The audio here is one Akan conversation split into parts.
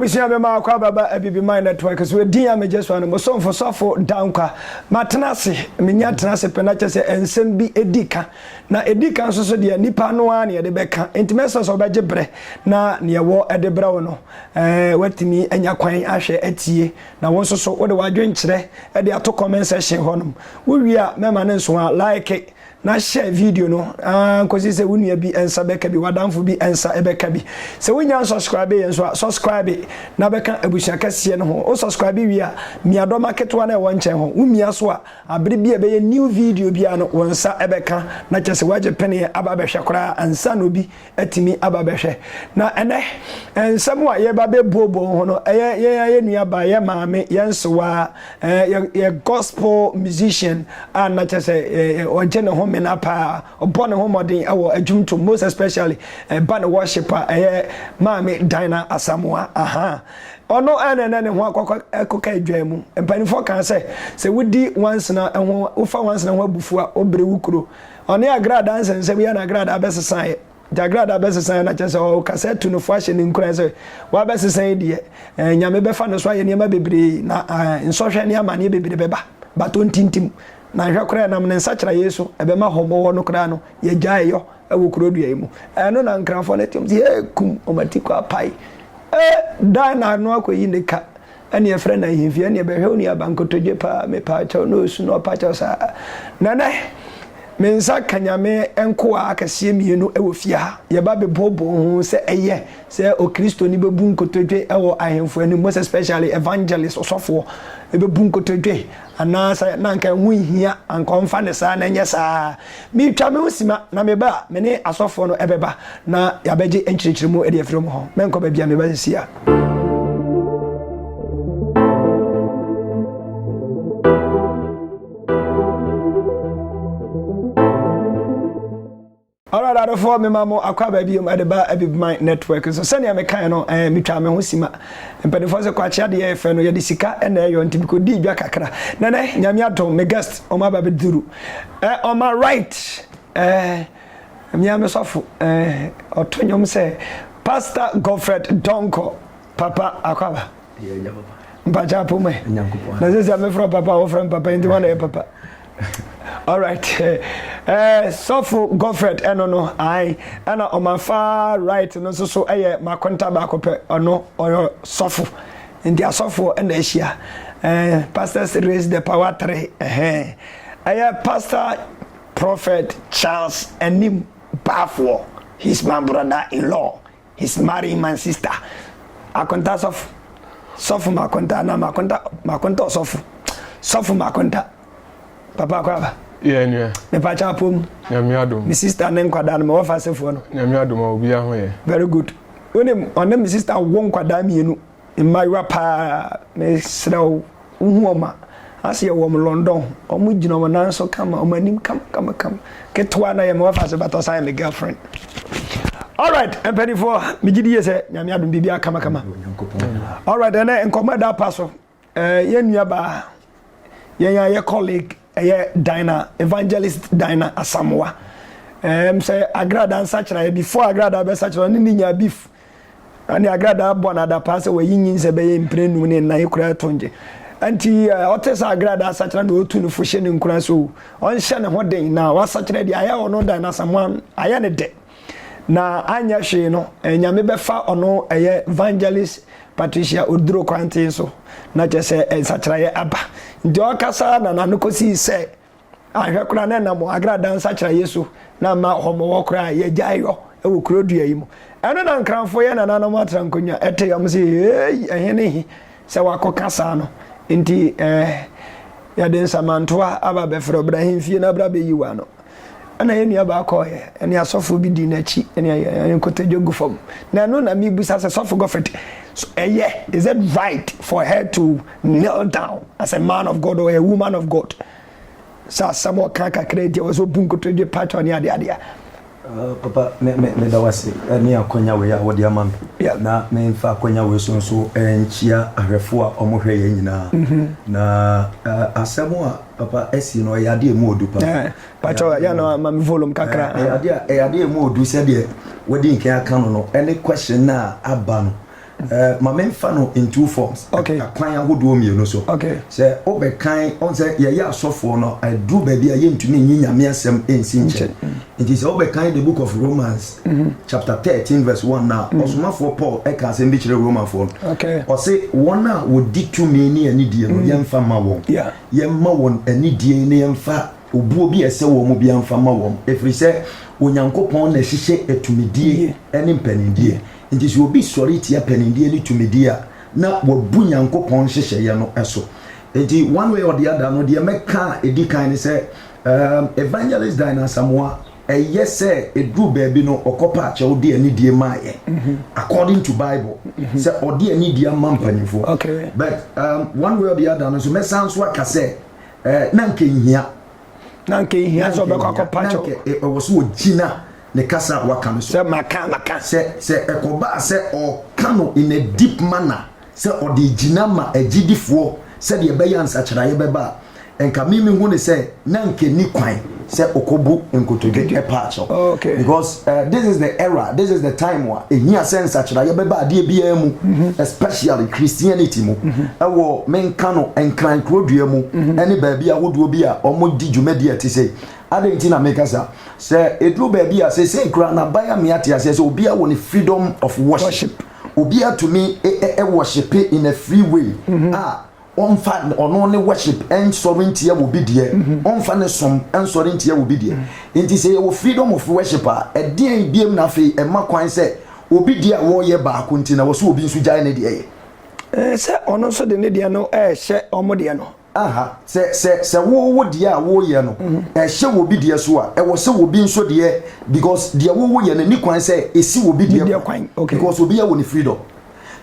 abusua bɛma akɔ ababa abibi man network so ɛdin a megye so ano mo somfo sɔfo dankwa matena ase menya tena ase pɛ na kyɛ sɛ nsɛm bi ɛdi ka Na ɛdi kan nso so deɛ, nipa no ara na yɛde bɛka. Enti mɛsrɛ sɛ wobɛgye berɛ na deɛ ɛwɔ de brɛ wo no, woatumi anya kwan ahwɛ atie. Na wo nso so wode w'adwenkyerɛ de ato comment section hɔnom. Wowie a, mɛma no nso a, like na share video no ara nkɔsi sɛ wo nua bi nsa bɛka bi, w'adamfo bi nsa bɛka bi. Sɛ wonnya nsɔskraibe yɛn nso a, sɔskraibe na bɛka abusua kɛseɛ no ho. Wo sɔskraibe wie a, mia dɔma ketewa no a ɛwɔ nkyɛn hɔ. Womia so a, Bere bi a ɛbɛyɛ new video biara no wo nsa bɛka na kyerɛ sɛ woagye penee aba abɛhwɛ koraa ansa na obi atumi aba abɛhwɛ. Na ɛnnɛ nsɛm a yɛreba abɛbuobuo ho no, ɛyɛ yɛn ara yɛn nuabaa, yɛn maame, yɛn nsewaa, yɛn gospel musician a na kyerɛ sɛ ɔgye ne homena paa, Ɔbɔ ne ho mmɔden wɔ adwum tom most especially ɛba ne worship a ɛyɛ maame Dinah Asamoah ahaa ɔno na ɛnɛ ne ho akɔka adwan mu mpaninfoɔ kaa sɛ sɛ wodi wansena ho wofa wansena ho abufuo a wobere wo kuro ɔne agradaa nsɛnsɛm yɛ na agradaa bɛsesaeɛ nti agradaa bɛsesaeɛ na kyɛ sɛ ɔkasa atu no fo ahyɛ ne nkuran sɛ wabɛsesa yi deɛ eh, nyame bɛfa ne so ayɛ nneɛma bebree na eh, nsɔhwɛ ne amaneɛ bebree bɛba bato ntintim na nhwɛ koraa ɛnam ne nsakyera yei so ɛbɛma hɔmɔ hɔ no koraa no yɛ gyae yɔ ɛwɔ kuro dua yi mu ɛno na nkrafoɔ no ɛtiam si hee kum wɔn ati kɔ apae ee dan na ano akɔ yi ne ka ɛne ɛfrɛ na nhimfi ɛne ɛbɛhwɛ wo nuaba nkotodwe paa me paa kyɛw na osu na ɔpa kyɛw saa nɛnɛ me nsa ka nyame nkoa akɛseɛ mmienu ɛwɔ fie ha yɛba bɛbooboo ho sɛ ɛyɛ sɛ okristo ni bɛbu nkotodwe ɛwɔ ahemfo anim most especially evangelist ɔsɔfoɔ ɛbɛbu nkotodwe anaasɛ na anka ɛho nhia, anka ɔmfa no saa na ɛnyɛ saa. Metwa me ho sima, na meba a, me ne asɔfoɔ no bɛba na yɛabɛgye nkyerɛkyerɛmu de afiri wɔn hɔ. Mɛnkɔ baabi a meba seesei a. Alright adofoɔ mema mo akɔ aba biom ɛde ba Abibman network so sɛnea mekae no ɛɛ metwaa me ho sima mpanifoɔ sɛ kwakye adeɛ yɛ fɛ no yɛde sika na ɛyɔ nti mekɔdii dwa kakra na nɛ nyame adom me guest ɔmo aba bɛduru ɛɛ on my right ɛɛ mea me sɔfo ɛɛ ɔto nnwom sɛ Pastor Godfred Donkor papa akɔ aba mpakyɛ apomɛ na sɛ sɛ mefrɛ papa wɔfrɛ me papa nti wɔn na yɛ papa Alright eh, sɔfo Godfred ɛno no ae ɛna ɔman far right no nso so ɛyɛ makonta baako pɛ ɔno ɔyɛ sɔfo nti asɔfoɔ ɛna ahyia eh, pastors raise the power three ɛhɛn ɛyɛ pastor prophet Charles anim baafoɔ he's my brother in law He's marrying my sister Akonta sɔfo Sɔfo Makonta anaa Makonta Makonta ɔsɔfo Sɔfo Makonta Papa Akwaba Yɛ nua Mepa kyɛ apɔ mu Nyame adom Me sister ne nkwadaa no mewɔ fa asefoɔ no Nyame adom a obiara ho yɛ Very good Wonim ɔne me sister wo nkwadaa mmienu Mmayewa paa mesrɛ wo wo hu wɔn a ase yɛ wɔn London ho wɔn gyina wɔn nan so kama wɔn anim kama kama kama ketewa na yɛ ma wafa ase bata ɔsan yɛ me girlfriend alright mpanimfoɔ megye di yɛ sɛ nyame adom biribi akama kama alright ɛnɛ nkɔmɔ ɛda pa so eh, yɛn nua baa yɛn a yɛ colleague Ɛyɛ Dina, Evangelist Dina Asamoah. Ɛɛm sɛ Agradaa nsakyeraeɛ, before Agradaa bɛsakyera, ɔne ne nyaa beef. Ɛne Agradaa bɔ no adapaa sɛ wayi nyinsɛ bɛyɛ mpire nnum ne nnan kura atongye. Ɛnti ɔte sɛ Agradaa asakyera na ɔtu no fo hyɛ ne nkuran sɛ o, ɔnhyɛ ne ho den na wasakyera deɛ ayɛ ɔno Dina Asamoah ayɛ no dɛ. Na anyɛ hwee no, eh, Nyame bɛfa ɔno ɛyɛ Evangelist Patricia Oduro kwantee so, na kyɛ sɛ eh, nsakyeraeɛ aba. Nti ɔkasa na n'ano kɔsii sɛ, ahwɛ koraa na ɛnam agrada nsakyeraeɛ so na ama ɔmɔwɔ koraa yɛgyae yɔ wɔ kuro dua yi mu. Ɛno na nkranfoɔ yɛ nananom atra nkonnwa ɛte yɔm se, hei, ɛhe ne he? Sɛ wakɔka saa no nti eh. Yɛde nsamantoa aba bɛfrɛ wo, bra ahemfie na bra bɛyi wo ano. Ɛna yɛn nuabaa kɔeɛ, ɛne asɔfoɔ bi dii n'akyi, ɛne ayɛ nkotodwe gu fam. Na ɛno na mebisa sɛ, Sɔfo Gofret, so ɛyɛ, is it right for her to kneel down as a man of God or a woman of God? Sɛ asɛm a ɔka kakra nti a ɔwɔ sɛ obu nkotodwe patwɔ ne adeade a. Papa, me, me, meda wo ase ne akwannya wei a wode ama me. Yeah. Na memfa akwannya wei so nso nkyia ahwɛfo a wɔhwɛ yɛn nyinaa. Mm-hmm. Na uh, asɛm a papa asi no, ɛyɛ ade a emu odu paa. Yeah. Patwɔ, yɛ no ama me volume kakra. Eh, ɛyɛ ade a, ɛyɛ ade a emu odu sɛdeɛ wadi nkan aka no no, ɛne question no a aba no. Ma me nfa no in two forms, akwan ahodoɔ mmienu so. Sɛ wo bɛ kan, ɔn sɛ yɛ yɛ asɔfoɔ no, aduru baabi a yɛ ntumi nyi nyame asɛm nsi nkyɛn. Nti sɛ wo bɛ kan the book of Romans mhm. chapter thirteen verse one na mhm. ɔsomafoɔ Paul ɛka e asɛm bi kyerɛ Romanfoɔ no. Ɔse wɔn a wɔdi tumi ne anidie no mhm. yɛn fa ma wɔn, yɛn ma wɔn anidie ne yɛn fa obuo bi ɛsɛ wɔn mu bi anfa ma wɔn, efiri sɛ Onyankopɔn na ɛhyehyɛ atumidie ɛne mpanindie. Enti sɛ obi sɔre tia panindeɛ ne tumidie a, na wabu Nyankopɔn nhyehyɛeɛ no so. Enti one way or the other no, deɛ mɛka a ɛdi kan ne sɛ, um, Evangelist Dine Asamoah, ɛyɛ sɛ ɛduru baabi no ɔkɔpa akyɛw de anidie maa yɛn mm-hmm. according to Bible mm-hmm. sɛ ɔde anidie ama mpanimfoɔ. But um, one way or the other no nso mɛsan so aka sɛ eh, na nka nhia na nka ehia sɛ ɔbɛkɔ akɔpa kyɛw. na nka ɛwɔ so ogyina ne kasa a waka no so. sɛ maka maka. sɛ sɛ ɛkɔbaa sɛ ɔka no in a deep manner sɛ ɔde gyina ma agyidifoɔ sɛdeɛ ɛbɛyɛ a nsakyeraeɛ bɛba a, nka me mehu no sɛ na nka ɛnni kwan sɛ ɔkɔbu nkotodwe pa akyɛw. Because. Eh, this is the era, this is the time a ɛhia sɛ nsakyeraeɛ bɛba adeɛ biara mu, mm-hmm. especially Christianity mu, mm-hmm. ɛwɔ menka no nkran kurodua mu, mm-hmm. ɛne baabi ahodoɔ bi a wɔdi dwumadi a ɛte sɛ adɛn nti na meka sa sɛ ɛduru baabi a sɛsei koraa naban a meate aseɛ sɛ obiara wɔ ne freedom of worship obiara tumi ɛwɔhyepe in a free way a Ɔmfa ɔno ne worship nsɔre ntia wɔ bi deɛ, ɔmfa ne som nsɔre ntia wɔ bi deɛ. Nti sɛ yɛwɔ freedom of worship a, ɛdeɛn biam na afei ɛma kwan sɛ obi deɛ a wɔreyɛ baako nti na ɛwɔ sɛ obi nso gyae ne deɛ yɛ? Sɛ ɔno nso de ne deɛ no rehyɛ wɔn deɛ no. Aha, sɛ, sɛ, sɛ wo, wo deɛ a woreyɛ no rehyɛ wɔ bi deɛ so a, ɛwɔ sɛ obi nso deɛ, because deɛ wo, woyɛ no nni kwan sɛ ɛsi wɔ bi deɛ kwan, because obiara wɔ ne freedom.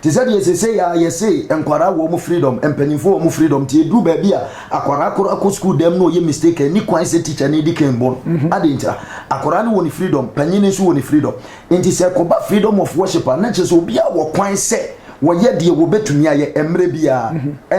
Te sɛ deɛ sesei aa yɛse nkwadaa wɔ ɔmo freedom, mpanyinfoɔ wɔ ɔmo freedom nti ɛduru baabi a akwadaa koro akɔ sukuu dɛm na ɔyɛ mistake a ɛnni kwan sɛ teacher no di kan bu no. Adɛn ntira? Akwadaa no wɔ ne freedom, panyin no nso wɔ ne freedom. Nti sɛ ɛkɔba freedom of worship a na kyerɛ sɛ obiara wɔ kwan sɛ wɔyɛ deɛ wɔbɛtumi ayɛ mmerɛ biara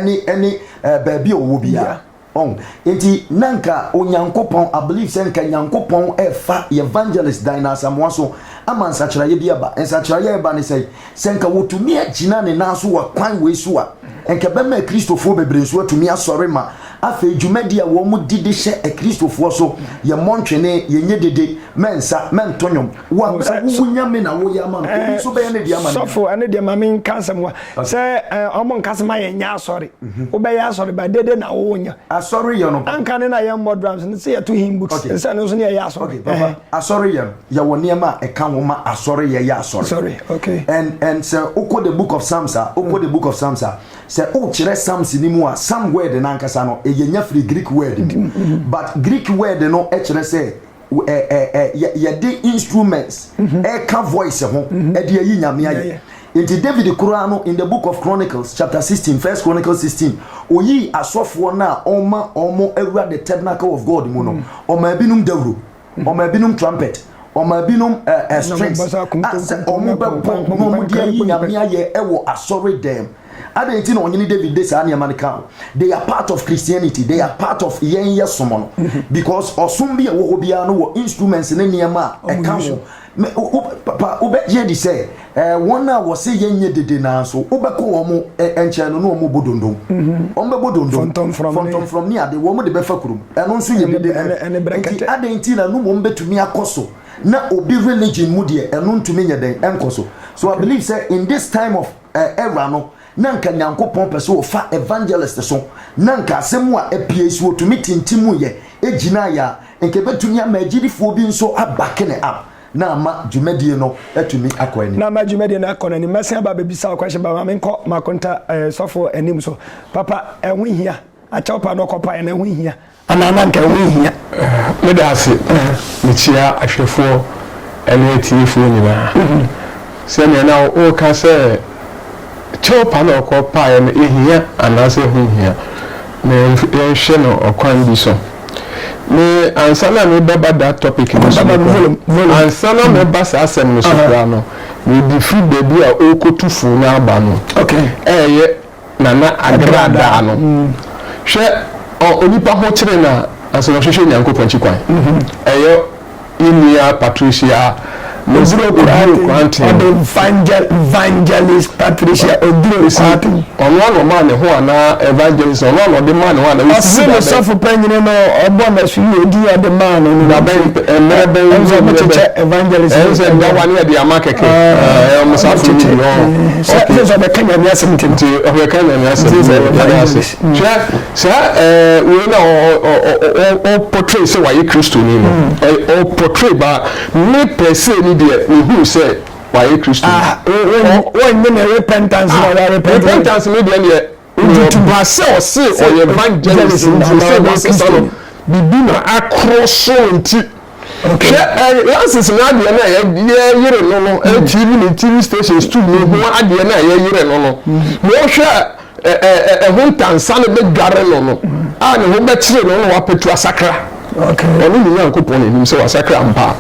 ne baabi a ɔwɔ biara. Ɔn nti na nka Onyankopɔn, I believe sɛ nka Nyankopɔn ɛɛfa y'Evangelist Dinah Asamoah so ama nsakyeraeɛ bi aba. Nsakyeraeɛ a ɛba ne sɛn? Sɛ nka wɔtumi agyina ne nan so wɔ kwan wei so a, nka ɛbɛma Akristofoɔ bebree nso atumi asɔre ma afei dwumadi a wɔn di de hyɛ Akristofoɔ so, yɛmmɔ ntwene, yɛnyɛ dede, mɛnsa, mɛnto nnwom, wabrɛ wo wo nyame na woyɛ ama no eh, obi nso bɛyɛ ne deɛ ama no sɔfo ɛne deɛ ma menka nsɛm wa sɛ eh, ɔmo nka sɛ ma yɛnyɛ asɔre mhm. wobɛyɛ asɔre ba dede na wonya asɔre yɛ no anka ne na yɛmmɔ drums no sɛ yɛto him books sɛ no nso ne yɛyɛ asɔre eh. asɔre yɛ no yɛwɔ nneɛma a ɛka ho ma asɔre yɛyɛ asɔre sorry okay and and sɛ wokɔ the book of psalms a wokɔ the book of psalms a sɛ wokyerɛ psalms ni mu a psalm word no ankasa no ɛyɛ nya firi greek word mm-hmm. but greek word no kyerɛ sɛ yɛde instruments ɛka voice ho ɛde ayi nyame ayɛ nti david koraa no in the book of chronicles chapter sixteen, first chronicles sixteen, oyii asɔfoɔ no a ɔma ɔmo awura the tabernacle of god mu no ɔma ebinom dawuro ɔma ebinom trumpet ɔma ebinom strings a sɛ ɔmo bɛbɔ na ɔmo de ayi nyame ayɛ ɛwɔ asɔre dɛm Adɛn nti na ɔhene David de saa nneɛma no ka ho? They are part of Christianity, they are part of yɛn yɛ som no. Because ɔsom bi a ɛwɔ hɔ biara no wɔ instruments ne nneɛma a ɛka ho. Me- wo- wo- Papa, wobɛgye adi sɛ eh, wɔn a wɔse yɛnyɛ dede nanso wobɛkɔ wɔn mo, eh, nkyɛn no na wɔbɔ dondom. Wɔbɛbɔ dondom. Fɔntɔmfrɔm ne- Fɔntɔmfrɔm ne ade, wɔn de bɛfa kurom. Ɛno nso yɛ Ɛne- dede. ɛne- ɛne Nti brɛkɛtɛ. adɛn nti na no mmom bɛtumi akɔ so na obi religion mu deɛ ɛno ntumi nyɛ dɛn ɛnkɔ so. So I believe sɛ in this time of eh wura no na nka nyankopɔn pɛ sɛ ɔfa evangelist so na nka asɛm mu a ɛpiei so ɔtumi tintimuu yɛ ɛgyinaa yɛ a nka ɛbɛtumi ama agyidifoɔ bi nso abake ne up na ama dwumadie no atumi akɔ anim. na ama dwumadie no akɔ no anim mɛsen aba abɛbisa wo question ba ma menkɔ makonta eh sɔfoɔ anim so papa ɛho hia akyɛw pa na ɔkɔ paeɛ no ɛho hia. Anaa na anka ɛho nhia? Meda ase. Mikyia ahwɛfoɔ ne atiefoɔ nyinaa. Sɛnea na woreka sɛ kyɛw pa na ɔkɔpaeɛ no, ehia anaasɛ ɛho nhia? Ma yɛnhwɛ no ɔkwan bi so. Me, ansa na merebɛba that topic no so koraa, ansa na mɛba saa asɛm no so koraa no, mede firi baabi a ɔrekɔtu fo no aba no, ɛreyɛ na na agradaa no. Hwɛ ɔ onipa ho kyere no a, ansa na ɔhwehwɛ Nyankopɔn akyi kwan. Ɛyɔ ye nua Patricia Oduro Quartin. Ɔde Vangel Vangelist Patricia Oduro Mesi, Quartin. ɔno ara na ɔmaa ne ho anaa Evangelist, ɔno ara na ɔde maa ne ho anaa? Mesi, Ɔse ne dabɛn? sɔfo panyini no ɔbɔ n'asu yi odin a ɔde maa no no Dabɛn, nti, ɛ- mmerɛ bɛn, ɛno sɛ ɔmo mmerɛ bɛn? kyekyɛ Evangelist Ɛyɛ sɛ ɛyɛ- dawa ne ɛde ama kɛkɛ. Ah, Ɛyɛ ɔmo saa ɔmo fo no kyekyɛ, bi, ɔɔ. eh. Sɛ Okay. sɛ sɛ ɔbɛka nyame asɛm nti no. nti ɔbɛka nyame asɛm Nti sɛ ɔbɛka yɛda ase English. Mm. hwɛ saa eh, wei na ɔpɔtray sɛ wayɛ kristoni no ɔpɔtray ba me pɛsee ni deɛ mehuu sɛ wayɛ kristoni Ah, wo- wo- Ɔ- wɔnyɛ ne repentance na wɔarepent no. repentance no deɛ neɛ Wɔ ba sɛ ɔse ɔyɛ evangelist nti ɔsɛ nankasa no bibi na akro so nti hwɛ lances no adeɛ no a yɛyere no no TV ne TV station stool no ho adeɛ no a yɛyere no no na ɔhwɛ ɛho ntansa no bɛdware no no a ne ho bɛkyere no na wapɛtu asakra ɔne ne nyankopɔn anim sɛ wasakra mpa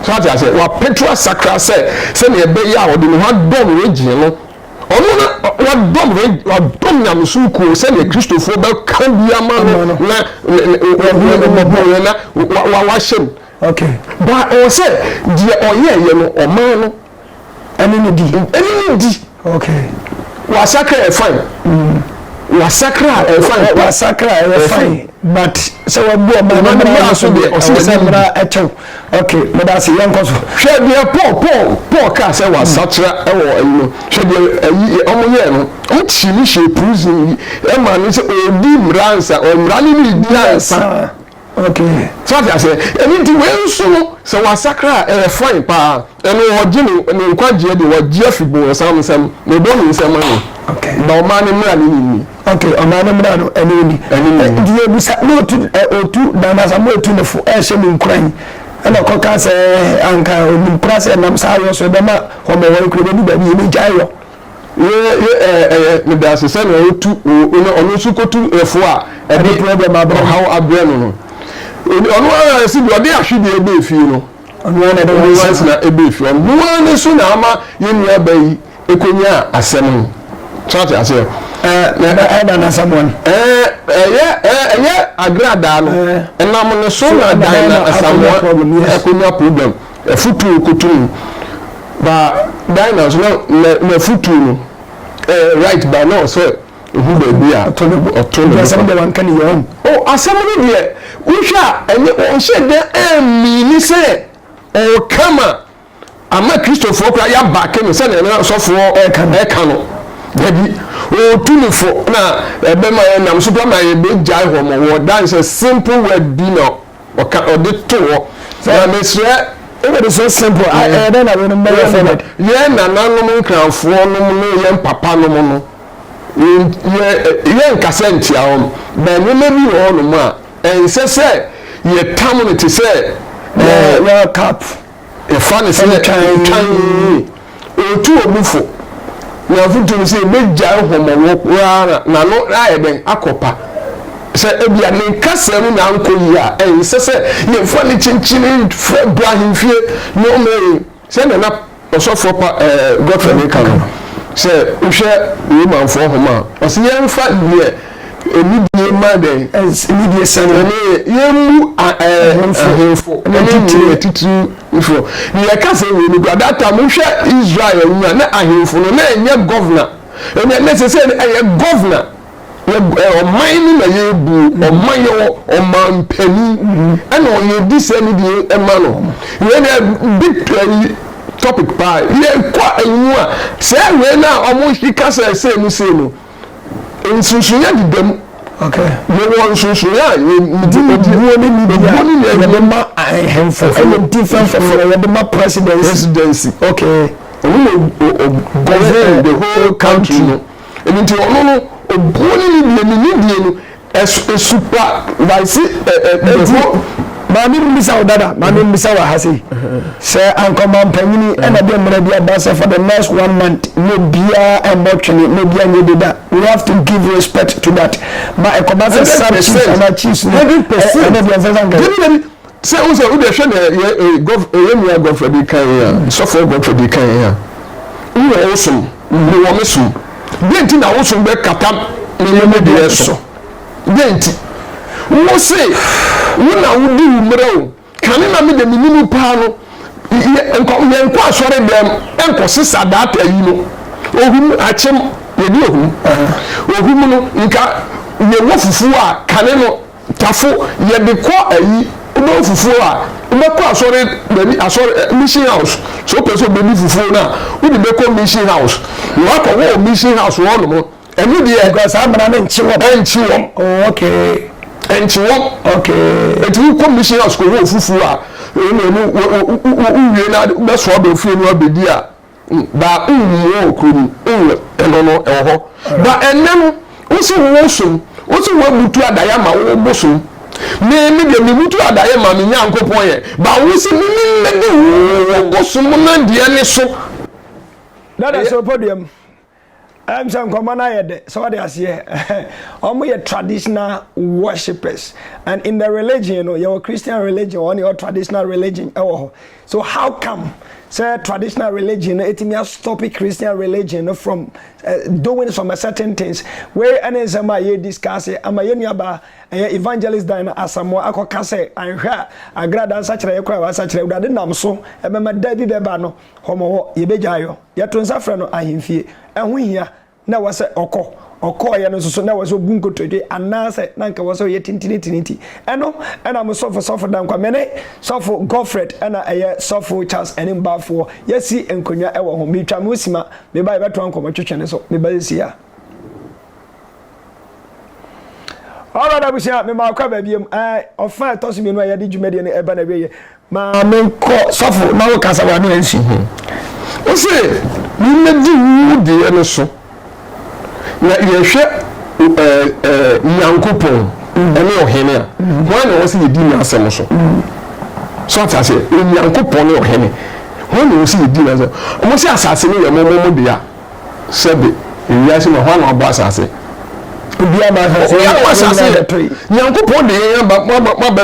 so ate aseɛ wapɛtu asakra sɛ sɛdeɛ ɛbɛyɛ a ɔde ne ho adɔm regye no Ɔno na wadɔm reg wadɔm nyamesom kuo sɛdeɛ kristofoɔ bɛka bi ama no na wɔbuɛ na wahyɛ mu. Ba ɛwɔ sɛ deɛ ɔyɛɛyɛ no ɔman no ɛne ne di. Ɛne ne di. Wasakra ɛyɛ fine. Wasakra ɛyɛ fine. Wasakra ɛyɛ fine but sɛ wabu ɔman no mmara so deɛ ɔsɛ sɛ mmara ɛkyɛw. Ok, meda ase, yɛnkɔ so. Hwɛ deɛ Paul, Paul, Paul kaa sɛ wasakyera wɔ ayi no. Hwɛ deɛ ayi wɔn yɛɛ no. Wɔn kyi no hyɛɛ prison yi. Ɛma no sɛ ɔredi mmara ansa, ɔ mmara no na ɛdi ansa. Ok. So ate aseɛ? Ɛno nti wei nso no, sɛ wasakra a, ɛyɛ fine paa. Eno wɔgye ne ne nkwagyeɛ deɛ wɔgye afiri bonsam nsam, na ɔbɔ ne nsam ano, na ɔmaa ne mmara no ne ni. Ok, ɔmaa ne mmara no ne ni. Ɛne ne ni. Nti yɛbisa, motu ɛ ɔtu na anaasɛ moatu no fo ɛrehyɛ mo nkuran, ɛna ɔkɔka sɛ anka ɔnim koraa sɛ ɛnam saa yɔ so ɛbɛma wɔmɔwɔre koraa ɛbɛdu baabi yɛbɛgyae yɔ? Ye ye ɛ ɛ ɛ medaase sɛ nea ɔtu o ɔno ɔno nso kɔtu ɛ fo a ɛde problem abrɛ no. ɔhaw abrɛ no no, ɔno ara si deɛ ɔde ahwedeɛ ba efie no. Ɔno ara na ɛde wɔn asetena bɛɛ fie. Ɔno ara ne so na ama yɛn nua baa yi kɔnyaa asɛm no. So ate aseɛ? Ɛyɛ dan asɛm wɔn. Ɛyɛ ɛyɛ agradaa no. Ɛnam ne so na dan na asamoa kɔnya problem. Afutuo kɔtu no. Ba dan na nso na na afutuo no right ba na ɔsɛ. Ohu baabi a ɔtɔ ne bo fa. Nti asɛm deɛ wanka ne yɔn. O, asɛm no deɛ wohwɛ a ɛnyɛ, ɔnhyɛɛ da ammini sɛ ɔreka ma ama Kristofoɔ koraa yɛabake no sɛdeɛ na asɔfoɔ reka no. Dabi, ɔretu no fo na ɛbɛma ɛnam so koraa ma yɛbɛgyae hɔ ma wɔ dan sɛ simple word bi na ɔka, ɔde to hɔ. Na mesrɛ, Wobɛde sɛ simple a, ɛyɛ dɛn na wei no mmɛyɛ forward? Yɛn nananom Nkrafoɔ nom ne yɛn papanom no. Yɛnka sɛ nkyia hɔ but nneɛma bi wɔ hɔnom a ɛnsɛ sɛ yɛtam no te sɛ World Cup yɛfa no sɛ twan ɔtu obi fo na afotu no sɛ yɛbɛgyae nhɔmmɔwɔ koraa na n'ano ayɛ dɛn akɔpa sɛ ebia ne nkasa mu na ankɔ yie a ɛnsɛ sɛ yɛfa no kyinkyini frɛ bra ahemfie nneɛma yi Sɛnea na Ɔsɔfoɔ Pa Godfrey no reka no, sɛ wohwɛ Romanfoɔ Nhoma a, ɔse yɛmfa deɛ anidie ma dɛn? Anidie sane. Ɛno yɛ yɛmmu ahemfo ne titire atitirifoɔ. Ne yɛka sɛ wei no kura that time wohwɛ Israel no a na ahemfo no na ɛnyɛ governor ɛnɛ na sɛ sɛ ɛyɛ governor. ɔman no na yɛbu ɔman yɛ ɔmanpanin ɛna ɔyɛ di sɛ ne deɛ ɛma no wei na big play topic paa yɛkɔ ayimu a sɛ wei na ɔmo hye kasa ɛsɛ mu sei no nsonsonya deda mu yɛwɔ nsonsonya a yɛdi obuo ne ne bia yɛde ma ahemfo ɛyɛ different from yɛde ma presidency okay ɔmo na govern the whole country no. Ɛno nti ɔno no obuo ne ne deɛ ne ne deɛ no ɛsupa vaise ɛdi. Maame mbisa wo dada, maame mbisa wɔ ha sei. Sɛ ankɔma mpanyini ɛna deɛ mmerɛ bi aba sɛ for the next one month mo biara ɛmmɔ twene mo biara nyɛ deda. We have to give respect to that. Ma ɛkɔba sɛ sub chiefs anaa chiefs no ɛna deɛ nsɛ sɛ ankɛ. Sɛ wohu sɛ wode hwɛ nea yɛ eh, gɔf, eh, yɛn nua Godfrey de kan yɛn a, sɔfoɔ Godfrey de kan yɛn a, wo wɔ wo som, me wɔ me som, deɛ nti na wo som bɛ kata me ne me deɛ so? Deɛ nti? Wo se wo na wo di wo mmerɛ o, kane na me de me nim paa no, yɛ, nkɔ, yɛ nkɔ asɔre dɛm, nkɔ sesa data yi no, ohum, akyem, yɛ di ohum, ohum no, nka yɛ wɔ fufuo a, kane no. Tafo yɛde kɔ ayi wobɛwɔ fufuo a wobɛkɔ asɔre baabi asɔre eh, mission house sɛ wopɛ sɛ wobɛdi fufuo no a wode bɛkɔ mission house na wakɔ hɔ wɔ mission house hɔ nom ɛno deɛ Because saa mmara no nkye wɔm. ɛnkye wɔm Oh, okay. ɛnkye wɔm Okay. ɛti wokɔ mission house kɔhɔ ofufuo a ɛna ɛmu wo- wo- wo- wo- wowie no ade wobɛsoa ba ofie no abɛdi a ba nwu wɔ kuro mu nwu ɛno no ɛwɔ hɔ ba ɛnɛ no wosi wo wo som wosi wo abutu adaeɛ ama wo bosom me me deɛ me butu adaeɛ ma me nyankopɔn yɛ ba wosi me me mmɛdi wo wo bosom no deɛ ne so. Dada sɛ ɔpɔ dua mu. Ɛm sɛ nkɔmɔ no ayɛ dɛ, sɛ ɔde aseɛ. Ɔmo yɛ traditional worshippers and in the religion no yɛwɔ Christian religion ɔne ɔ traditional religion ɛwɔ hɔ so how come sɛ traditional religion no ɛtumi astɔpe Christian religion no from uh, doing some certain things wei ɛne nsɛm a yɛ discuss ama yɛ nuabaa ɛyɛ evangelist dan no asamoa akɔka sɛ anhwɛ a agrada nsakyerɛ yɛ kora wasakyerɛ awurade nam so ɛbɛma da bi bɛba no Hɔ mo hɔ yɛbɛgyae yɔ. Yɛto nsa frɛ no ahemfie. Ɛho hia, na ɛwɔ sɛ ɔkɔ. Ɔkɔeɛ no nso so, na ɛwɔ sɛ ɔbu nkotodwe, anaasɛ na anka ɛwɔ sɛ ɔyɛ tintinitini nti. Ɛno na mo sɔfo, Sɔfo Danquah, me ne Sɔfo Godfred na ɛyɛ Sɔfo Charles anim baafoɔ, yɛasi nkonnwa wɔ ho. Meretwa mo sima, meba a yɛbɛtoa nkɔmmɔtwetwe no so. Meba seesei a. Alright abusua, mema akɔ aba biom. Ɛɛ, ɔfã a ɛtɔ so mmienu a yɛde dwumadie no reba n'awieeɛ. Ma menkɔ sɔfo na wo kasa w'ano ansi ho. Wo se yemmedi wo deɛ no so na yɛhwɛ eh, Nyankopɔn ne ɔhene a, hwan na ɔwɔ sɛ yedi n'asɛm so? So ate aseɛ? Onyankopɔn ne ɔhene, hwan na ɔwɔ sɛ yedi n'asɛm? Wɔn se asase no yɛ mo mo mo dea, sɛbe ewiase ma hwan na wabɔ asase? Obiara ma asase yɛ Nyankopɔn de yɛn aba mo aba mo aba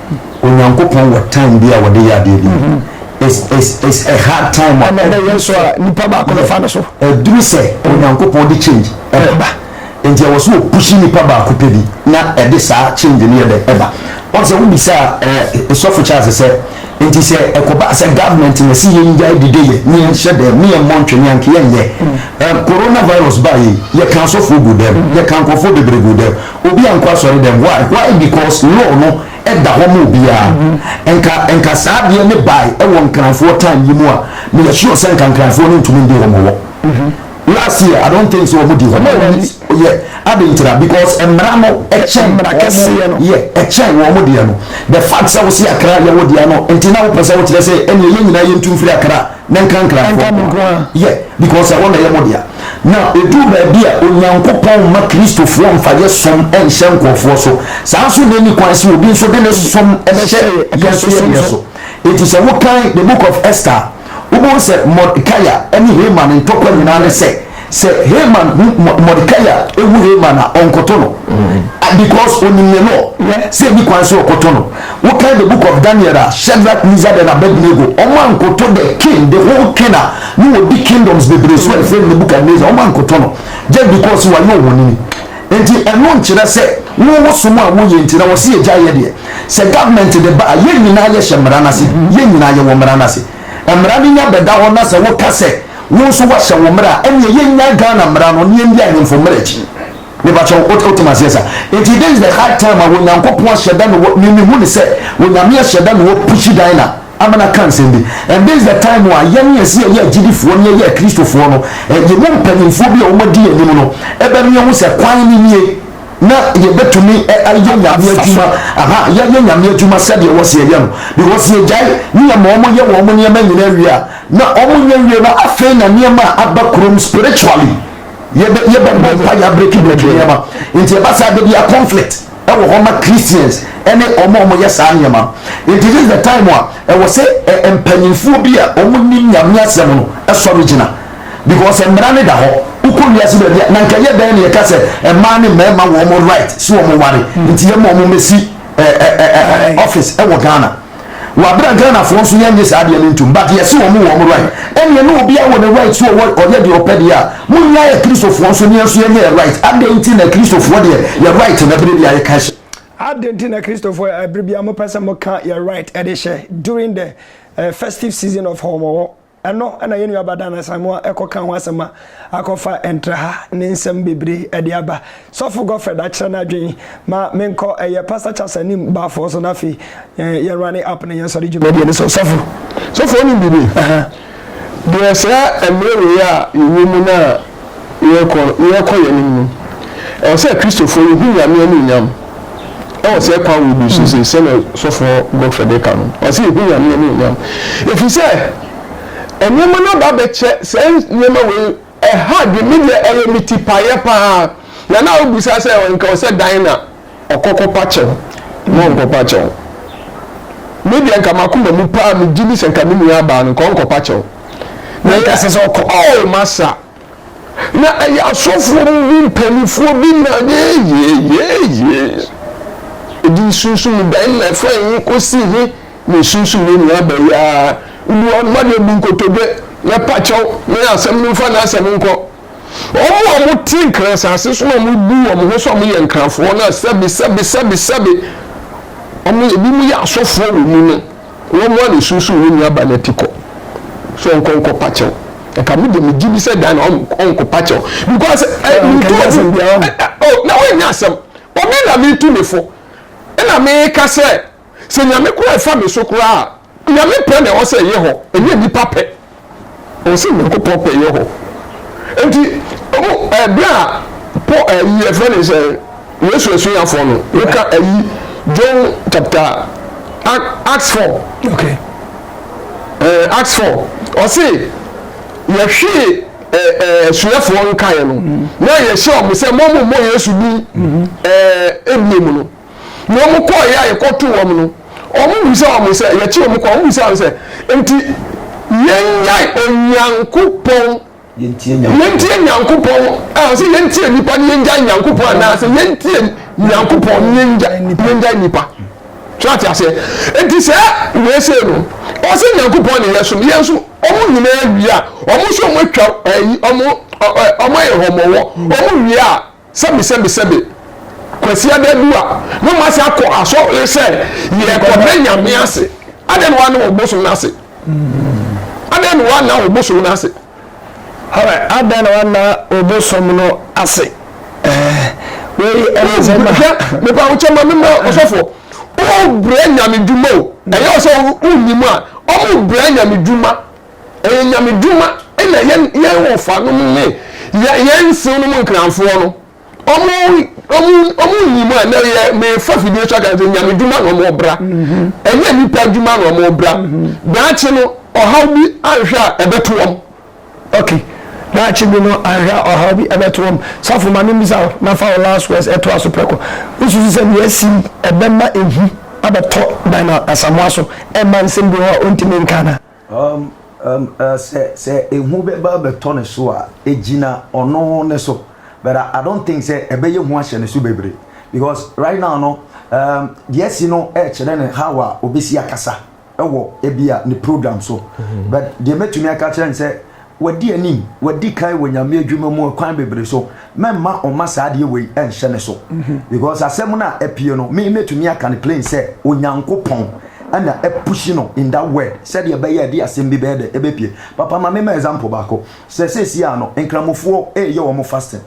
Onyankopɔn wɔ time bi a wɔde yɛ adeɛ bi. Mm-hmm. It's, it's, it's a hard time. Ɛna ɛna yɛn so a nipa baako bɛfa no so. Ɛduru sɛ mm. Onyankopɔn de change ɛba. Nti ɛwɔ so opushi nipa baako pɛ bi na ɛde saa change no yɛ dɛ ɛba. Wɔn sɛ wobisa ɛɛ sɔfo Charles sɛ nti sɛ ɛkɔba sɛ government na si yɛn gya dide yɛ ne yɛn hyɛ dɛm ne yɛn mmɔ ntwe ne yɛn yɛn yɛ. Mm. Coronavirus ba yi yɛ kan sɔfo gu dɛm yɛ kan nkɔfo bebree gu dɛm. Obi ankɔ asɔredɛm why why because law no da hɔ ma obiara nka nka saa adeɛ ne bae wɔ nkranfoɔ time yi mu a me yɛ sure sɛ nka nkranfoɔ no ntumi ndi hɔ ma wɔ last year I don't think sɛ wɔn di hɔ ma wɔn yɛ ade ntira because mmara no ɛkyɛn wɔn yɛ ɛkyɛn wɔn deɛ no the fact sɛ wɔsi akra yɛ wo deɛ no nti na wopɛ sɛ wokyerɛ sɛ ɛnneɛ yɛn nyinaa yɛntu mfiri akra. Ne nkrankranfoɔ nko ara. Ɛnka me nko ara. Yɛ, because ɛhɔ na ɛyɛ mo dea. Na ɛduru baabi a, Onyankopɔn mma Kristofoɔ mfa yɛ som nhyɛ nkorɔfoɔ so. Saa nso na ɛnni kwan sɛ obi nso de ne som hyɛ yɛn nso yɛ deɛ so. Enti sɛ wokan The Book of Esther a, wobɛhu sɛ Mordecai ne Haman ntɔkwa nyinaa ne sɛ, sɛ Haman hu Mordecai a ehu Haman a ɔnkɔtɔ no mm. because onim ne law sɛ ebi kwan sɛ ɔkɔtɔ no wokan the book of Daniel a Shadrach Mizad and Abednego ɔmo ankɔtɔ the king the whole king a ne wɔ di kingdoms bebree so ɛfɛ mu Nebuchadnezzar ɔmo ankɔtɔ no just because wayɛ ohonini nti ɛno nkyerɛ sɛ wo wosom a woyɛ nti na wɔsi egya yɛ deɛ sɛ government de ba a yɛn nyinaa yɛ hyɛ mmara n'ase yɛn nyinaa yɛ wɔ mmara n'ase. Mmara no nya bɛda hɔ na sɛ woka sɛ wo nso woahyɛ wo mmara a, ɛnneɛ yɛnnyae Ghana mmara no na yɛndi ahemfo mmara akyi. Mepakyɛw, wote wote m'aseɛ saa? Enti this is the high time a Onyankopɔn ahyɛ da na wɔ, me mehu no sɛ Onyame ahyɛ da na wɔ pushi Dinah ama no aka nsɛm bi. And this is the time a yɛn a yɛse yɛyɛ agyidifoɔ na yɛyɛ Akristofoɔ no, yɛn mu mpanyimfoɔ bi a wɔadi yɛn anim no bɛmia hu sɛ kwan no nie. na yɛbɛtumi ayɛ Nyame adwuma, aha, yɛayɛ Nyame adwuma sɛdeɛ wɔse yɛyɛ no, because yɛgyae ne yɛ ma wɔn yɛ wɔn nneɛma nyinaa wie a, na wɔn nyɛ wie no, afei na nneɛma a aba kurom spiritually, yɛbɛ, yɛbɛbɔ mpaeɛ abreki breki nneɛma, nti ɛba saa da biara conflict ɛwɔ hɔ ma Christians ɛne wɔn a wɔyɛ saa nneɛma no, nti this is the time a ɛwɔ sɛ mpanyinfoɔ bi a wɔnim Nyame asɛm no sɔre gyina. because mmara no da hɔ wokɔ wiase baabi a na nka yɛ dɛn na yɛka sɛ mmaa ne mmarima wɔ wɔn right sɛ wɔn ware nti yɛma wɔn mɛsi office ɛwɔ Ghana wɔ abira Ghanafoɔ nso yɛn nye saa adeɛ no ntum but yɛsi wɔn wɔ wɔn right ɛnneɛ ne obi awɔ ne right so ɔwɔ ɔyɛ deɛ ɔpɛ deɛ a mo nyinaa yɛ kristofoɔ nso ne nso yɛnyɛ yɛ right adɛn nti na kristofoɔ deɛ yɛ right na ɛbere bi a yɛka hyɛ adɛn nti na kristofoɔ ɛbere bi a mopɛ sɛ moka yɛ right ɛde hyɛ during the uh, festive season of hɔmɔwɔ Ɛno na yɛn nua Badan Asamoah kɔ ka ho asɛm a akɔfa ɛntra ha ne nsɛm bebree de aba. Sɔfo Godfred akyerɛ n'adwene ma menkɔ ɛyɛ Pastor Charles anim Baafoɔ so na afei yɛn rane app ne yɛn sɔre dwumadie no so. Sɔfo. Sɔfo wonim biribi? Ɛhɛn. Deɛ saa mmerɛ wei a yɛwɔ mu no a Yɛrekɔ yɛn anim no, ɛwɔ sɛ Kristofo yehu Nyame anuonyam wɔ saa kwan wei bi so sei, sɛnea sɔfoɔ Godfrey de ka no. Ɔsɛ yehu Nyame anuonyam, ɛfiri sɛ nneɛma no aba abɛkyɛ saa nneɛma wei ɛha adwene, me deɛ ɛyɛ me tipaeɛ paa, na na wobisa sɛ nka ɔsɛ dan na ɔkɔkɔpa kyɛw na ɔnkɔpa kyɛw. Me deɛ nka m'akoma mu paa megye di sɛ nka me nua abaa no nka ɔnkɔpa kyɛw. Na nka ɛsɛ sɛ ɔkɔ. Oh masa. Na ɛyɛ asɔfoɔ mu bi mpanimfoɔ bi na yeyeyeee ɛbɛyɛa wode w'adeɛ bu nkotodwe na pakyɛw na yɛ asɛm no mfa n'asɛm nkɔ. Wɔn a wɔte Nkran asase so na wɔbu wɔn ho sɛ wɔyɛ Nkranfoɔ no a sɛbe, sɛbe, sɛbe, sɛbe, wɔn, ebinom yɛ asɔfoɔ wɔ mu no, wɔn ara na esunsum wɔn nua ba no ati kɔ sɛ ɔnkɔ nkɔpa kyɛw. Nka me deɛ megye di sɛ dan na ɔnkɔpa kyɛw because eh, mentɔ asɛm biara. Oh, na wɔnyɛ asɛm. Obi na metu ne fo, ɛna meka sɛ Sɛ Nyame koraa ɛfa me so koraa a, Nyame pɛ na ɛwɔ sɛ ɛyɛ hɔ, ɛnyɛ nnipa pɛ. Ɛwɔ sɛ Nyankopɔn pɛ yɛ hɔ. Enti, ɔmo, ɛɛ, berɛ a Pɔ, ɛɛ, yi, ɛfrɛ ne sɛ, Yesu asuafoɔ no, woka ayi, John chapter, Ac, Acts four, Okay. ɛɛ, Acts four, ɔse, Yɛhwee, ɛɛ, ɛɛ, asuafoɔ nkaeɛ no, na yɛhyɛɛ ɔmo sɛ, Mommɔ Yesu din, ɛɛ, ɛbio mu no. Na wɔn kɔɔeɛ a yɛkɔtoo wɔn no, wɔn bisa wɔn sɛ, yɛkye wɔn kɔ, wɔn bisa wɔn sɛ, Enti yɛnnyae Onyankopɔn, yɛntie Nyankopɔn, a sɛ yɛntie nnipa ne yɛngyae Nyankopɔn anaa sɛ yɛntie Nyankopɔn ne yɛngyae nnipa? So ate aseɛ? Enti sɛ wei sei no, ɔsɛ Nyankopɔn ne yɛsom, yɛn nso wɔn nyinaa wie a, wɔn nso wɔn atwa wɔn ayɛ hɔmɔwɔ, wɔn wie a, Sɛbe sɛbe sɛbe Kwasi ada du a na ɔmo ase akɔ asɔre sɛ yɛkɔda nyame ase adɛn na woanna obosom no ase adɛn na woanna obosom no ase. Alright adɛn na woanna obosom no ase eh wei ɛne sɛ ma. Hwɛ mepa wo kyɛ ma me ma ɔsɔfoɔ wo brɛ nyame dwuma o ɛyɛ wo sɛ wo nnim a ɔmo brɛ nyame dwuma. Ɛyɛ Nyame dwuma na yɛn yɛn wɔfa nom ne yɛn yɛn nsew nom nkranfoɔ no ɔmo ɔmo ɔmo nim a na yɛ mefa fidie so aka sɛ Nyame dwuma na ɔmo bra mhm. ɛnyɛ nipa dwuma na ɔmo bra mhm. daakye no ɔhaw bi anhwɛ a ɛbɛto wɔn. okay daakye bi no anhwɛ a ɔhaw bi ɛbɛto wɔn safo ma ne mbisa na fa last words ɛto aso prɛko wosusu sɛ nea asi ɛbɛma ehu abɛtɔ dan asamoa so ɛma nsɛm bi hɔ a ɔntumi nka na Sɛ ehu bɛba abɛtɔ ne so a, egyina ɔno ne so but I don't think sɛ ɛbɛyɛ hu ahyɛ ne so bebree because right now no deɛ asi no ɛkyerɛ no how a obesi akasa ɛwɔ ebi a ne program so but deɛ mɛtumi aka kyerɛ no sɛ Wadi anim, wadi kan wɔ Nyame adwuma mu kwan bebree so, mɛmma ɔmma saa adeɛ wei nhyɛ ne so. Because asɛm no a apue no, me mɛtumi aka no plain sɛ, Onyankopɔn na apushi no in that word, sɛdeɛ ɛbɛyɛ a ɛde asɛm bi bɛyɛ dɛ, ɛbɛpue. Papa, ma me mma example baako. Sɛ seesei ara no, Nkramofoɔ reyɛ wɔn fasting.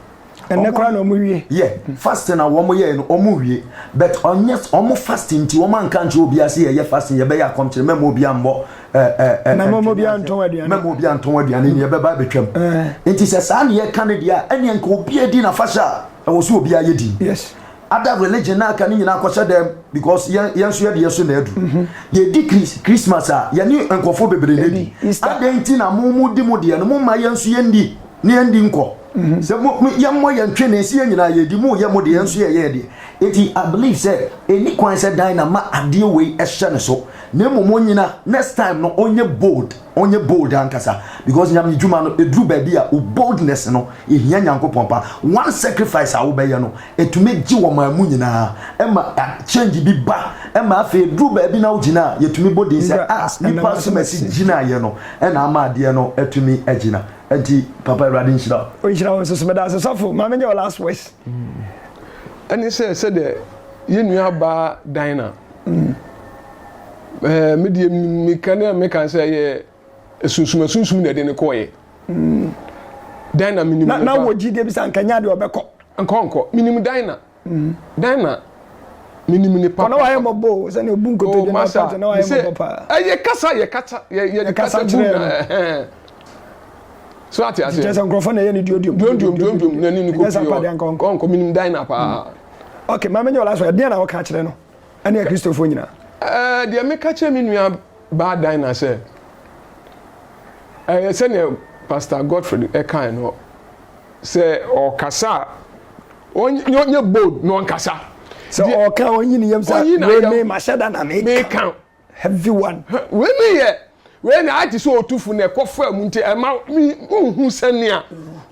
ɛnɛ koraa na ɔmo wie. yɛ fasting a wɔn yɛ no wɔn wie but ɔnyɛ wɔn fasting nti wɔn anka nkyerɛ obi ase yɛ yɛ fasting yɛbɛyɛ akɔmkyerɛ mɛma obi anbɔ ɛɛ ɛɛ na mɛma obi antɔn aduane mɛma obi antɔn aduane ni ɛbɛba abɛtwam nti sɛ saa ne yɛ ka ne deɛ a ɛnneɛ nka obi edi na fahyɛ a ɛwɔ so obi ayɛ di yes ada religion na aka ne nyinaa akɔhyɛ dɛm because yɛn yɛn nso yɛ deɛ so na adu mhm. yɛdi kris christmas a yɛne nkurɔfoɔ bebree na edi adɛn nti na mo mo di mo deɛ no mo ma yɛn nso yɛn di. ne yɛndi nkɔ mhm. sɛ yɛmmɔ yɛn ntwe ne nsi yɛn nyinaa yɛdi mu yɛ mo deɛ nso yɛyɛ yɛ deɛ eti i believe sɛ ɛni kwan sɛ dan na ma adeɛ wei ɛhyɛ ne so na mmom onyina next time no ɔnyɛ bold ɔnyɛ bold ankasa because nyame dwuma no ɛduru baabi a wo boldness no ɛhia nyankopɔn pa one sacrifice a wobɛyɛ no ɛtumi gye wɔ maa mu nyinaa ɛma change bi ba ɛma afei ɛduru baabi na wogyina a yɛtumi bɔ din sɛ a ah, nipa so masi gyinaeɛ no ɛna ama adeɛ no atumi agyina Ɛnti papa awurade nhyira wo. Ɔnhyira wo nso so meda ase sɔfo ma menyɛ wo last words. Ɛne sɛ sɛdeɛ yɛn nua baa Dinah ɛɛ me deɛ mika ne a meka sɛ ɛyɛ asunsum asunsum na ɛde ne kɔɔyɛ. Dinah menim ne ba. Na wɔ gyidie bi sɛ anka nya deɛ ɔbɛkɔ. Nkɔ nkɔ menim Dinah. Mm. Dɛn na menim ne papa. Ɔna wayɛ mmɔbɔ o sɛnea obu nkotodwe na ɔka te na wayɛ mmɔbɔ paa. Ɛyɛ kasa yɛ kasa yɛ yɛ kasa bu na so ate ase. Kyerɛ sɛ nkurɔfoɔ na ɛyɛ ne duodiom. Duodiom duodiom na ne ne kɔ pii ɔ ɔnkɔ menim dan na paa. Mm. Ok maame nyɛ ɔla so ɛdeɛ na ɔka kyerɛ no ɛne akristofoɔ nyinaa. Ɛɛ eh, deɛ meka kyerɛ me nua baa dan na sɛ ɛyɛ eh, sɛnea Pastor Godfrey ɛkae no Sɛ ɔkasa a, ɔnyɛ bold na ɔnkasa. Sɛ ɔka ɔnyi ne yam sɛ wei me mahyɛ da na meka. Heavy one. Wei ne yɛ wei na ayɛ te sɛ ɔtufo na ɛkɔ fa mu nti ɛma nhu sɛnea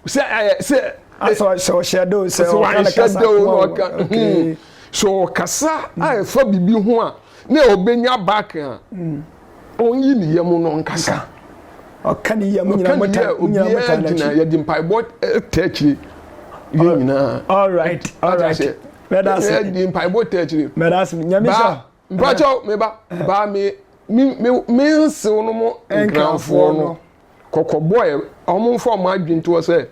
sɛ sɛ sɛ ɔhyɛ da o sɛ ɔka ne kasa ko a ɔka. Hmm. Sɛ ɔkasa a ɛfa biribi ho a na ɔbɛnya back a Ɔnyi ne yam no nkasa. Ɔka ne yam nyinaa mo ta mo nyinaa mo ta n'akyi. Gyina yɛde mpaebɔ ta akyire yɛn nyinaa. All right all right. Mɛda ase. Yɛde mpaebɔ ta akyire. Mɛda ase nyame sɔ. Baa mpakyɛw meba baa me me me nsew no mo nkranfoɔ no. kɔkɔbɔ ɛ, ɔmo nfa ɔmo adwene ntoɔ sɛ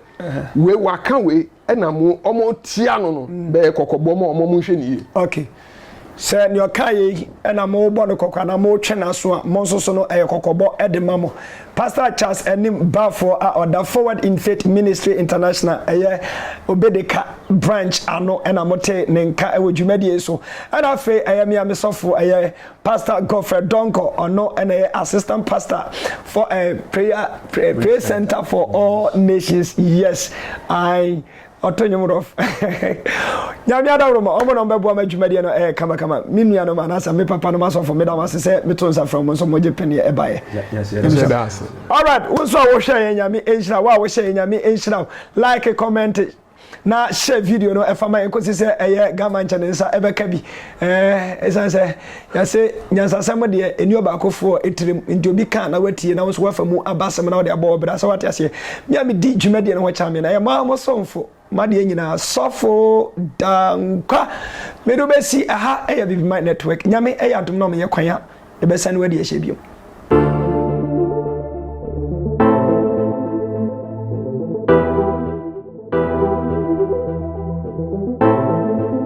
wei waka wei ɛna mo ɔmo tia no no mm. bɛyɛ kɔkɔbɔ ma ɔmo ɔmo nhwɛ ne yie. ok sɛ nea ɔka yɛ yi ɛna mo bɔ no kɔkɔ anaa mo twɛ n'aso a mo nso so no ɛyɛ kɔkɔbɔ ɛde ma mo pastor charles anim baafoɔ a ɔda forward in faith ministry international ɛyɛ obedeka branch ano ɛna mo te ne nka ɛwɔ dwumadie so ɛna afei ɛyɛ mmea mesɔfo ɛyɛ Pastor Godfred Donkor, ɔno ɛna yɛ assistant pastor for a eh, prayer pray, pray center for all nations yes I ɔto nwom rof nyame adaworo ma ɔmo na ɔmo bɛboa ma adwumadeɛ no ɛyɛ kama kama me nua no ma anasa me papa no ma sɔfo meda mo ase sɛ meto nsa frɛ mo nso mogye pɛneɛ ɛbaeɛ alright wo nso a wohwɛ yɛ nyame nhyira wo a wohyɛ yɛ nyame nhyira wo like comment na hyɛ video no ɛfa ma yɛn kɔsi sɛ ɛyɛ gama nkyɛ ne nsa ɛbɛka bi ɛsiane sɛ yɛse nyansasɛm deɛ ɛni ɔbaakofoɔ ɛtirim nti obi ka na watie na wo nso wafa mu aba asɛm na wode abɔ ɔbrɛ sɛ wate aseɛ me a medi dwumadie no ho kyame na yɛ maa mo somfo madeɛ nyinaa sɔfo dankwa mede wobɛsi ɛha ɛyɛ bibima network nyame ɛyɛ adom na ɔmeyɛ kwan a Yɛbɛsane wadi ahyɛ bio.